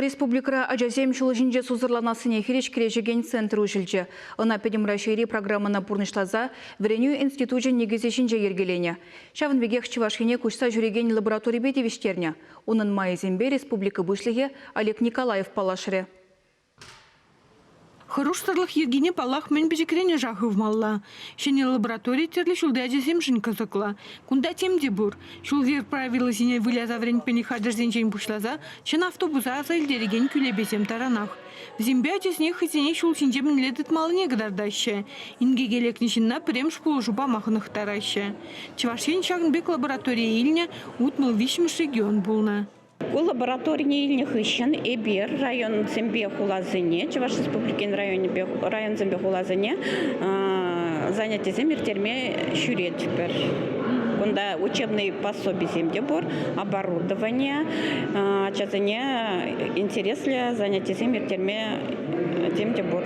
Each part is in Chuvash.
Республикӑра ачасем ҫул ҫинче сусӑрланассине хирӗҫ кӗрешекен центр уҫӑлчӗ. Ӑна Пӗтӗм Раҫҫейри программӑна пурнӑҫласа вӗренӳ институчӗн никӗсӗ ҫинче йӗркеленӗ. Ҫавӑн пекех Чӑваш Ене куҫса ҫӳрекен лабораторипе тивӗҫтернӗ. Унӑн майӗсемпе республика Пуҫлӑхӗ Олег Николаев паллашрӗ. Хӑрушсӑрлӑх йӗркине, паллах, мӗн пӗчӗкренешех хывмалла. Ҫӗнӗ лаборатори тӗрлӗ ҫулти ачасемшӗн кӑсӑклӑ. Кунта тем те пур. Ҫул-йӗр правилисене выляса вӗрентмен хатӗрсенчен пуҫласа чӑн автобуса аса илтерекен кӳлепесем таранах. Вӗсемпе ачасене хӑйсене ҫул ҫинче мӗнле тытмаллине кӑтартаҫҫӗ. Инкеке лекнӗ ҫынна пӗрремӗш пулӑшу пама хӑнӑхтараҫҫӗ. Чӑваш Ен ҫакӑн пек лабораторие илнӗ утмӑл виҫҫӗмӗш регион пулнӑ. Ку лабораторине илнӗ хыҫҫӑн эпир районсемпе хуласене, Чӑваш Республикин районӗпе, районсемпе хуласене занятисем ирттерме ҫӳретпӗр. Кунта учебнӑй пособисем те пур, оборудование, ачасене интереслӗ занятисем ирттерме тем те пур.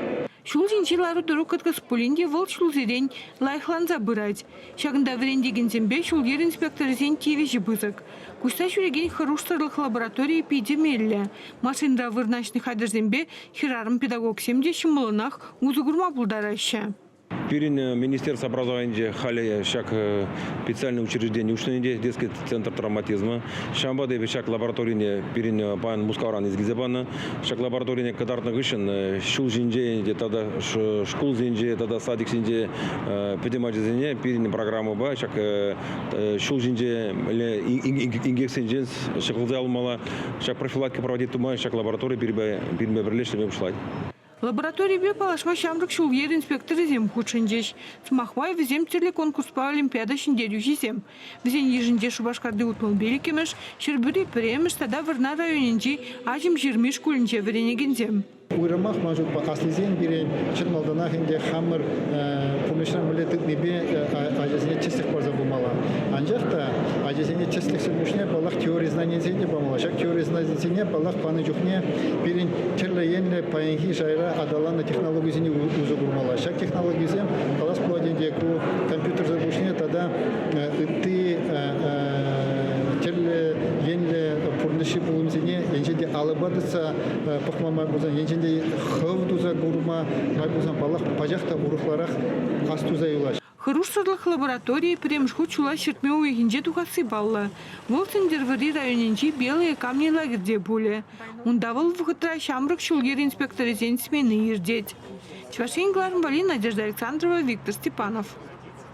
Ҫулсенчи лару-тӑру кӑткӑс пулин те вӑл ҫулсерен лайӑхланса пырать. Ҫакӑнта вӗрентекенсемпе ҫул-йӗр инспекторӗсен тивӗҫӗ пысӑк. Куҫса ҫӳрекен хӑрушсӑрлӑх лабораторийӗ питӗ меллӗ. Машинта вырнаҫнӑ хатӗрсемпе хӗрарӑм-педагогсем те ҫӑмӑллӑнах усӑ курма пултараҫҫӗ. Пирӗн министерство образованинче халӗ ҫак специальное учреждение уҫнӑ ӗнтӗ, дескать, центр травматизмӗ. Ҫавӑнпа та эпӗ ҫак лабораторине пирӗн паян Мускавран илсе панӑ. Ҫак лабораторине кӑтартнӑ хыҫҫӑн ҫул ҫинчен те тата шкулсенче тата садиксенче пӗтӗм ачасене пирӗн программӑпа ҫак ҫул ҫинче инкексенчен ҫӑкӑлса алмалла ҫак профилактика проводить тума ҫак лаборатори пирӗнпе пӗрле ӗҫлеме пуҫлать. Лабораторипе паллашма ҫамрӑк ҫул-йӗр инспекторӗсем хутшӑнчӗҫ. Сӑмах май, вӗсем тӗрлӗ конкурспа олимпиада ҫӗнтерӳҫисем. Вӗсен йышӗнче Шупашкарти утмӑлпил иккӗмӗш, Ҫӗрпӳри пӗрремӗш тата Вӑрнар районӗнчи Аҫӑмҫырми шкулӗнче вӗренекенсем. Уйрӑмах ман шутпа аслисем пире чӑн малтанах ӗнтӗ хамӑр пурнӑҫра мӗнле тытнипе ачасене тӗслӗх парса пымалла. Анчах та ачасене тӗслӗхсӗр пуҫне паллах теори знанийӗсене памалла. Ҫак теори знанийӗсене паллах панӑ чухне пирӗн тӗрлӗ енлӗ паянхи шайра аталаннӑ технологисене усӑ курмалла. Ҫак технологисем калас пулать ӗнтӗ ку компьютерсӑр пуҫне тата ытти тӗрлӗ енлӗ пурнӑҫҫи пулӑмсене енчен те алӑпа тытса пӑхма май пулсан, енчен те хӑв туса курма май пулсан, паллах, пачах та урӑхларах ас туса юлаҫҫӗ. Хӑрушсӑрлӑх лабораторийӗ пӗрремӗш хут ҫула ҫӗртме уйӑхӗнче тухасси паллӑ. Вӑл Сӗнтӗрвӑрри районӗнчи Белые камни лагерьте пулӗ. Унта вӑл вӑхӑтра ҫамрӑк ҫул-йӗр инспекторӗсен смени иртет. Чӑваш Ен кӑларӑмпа Надежда Александрова, Виктор Степанов.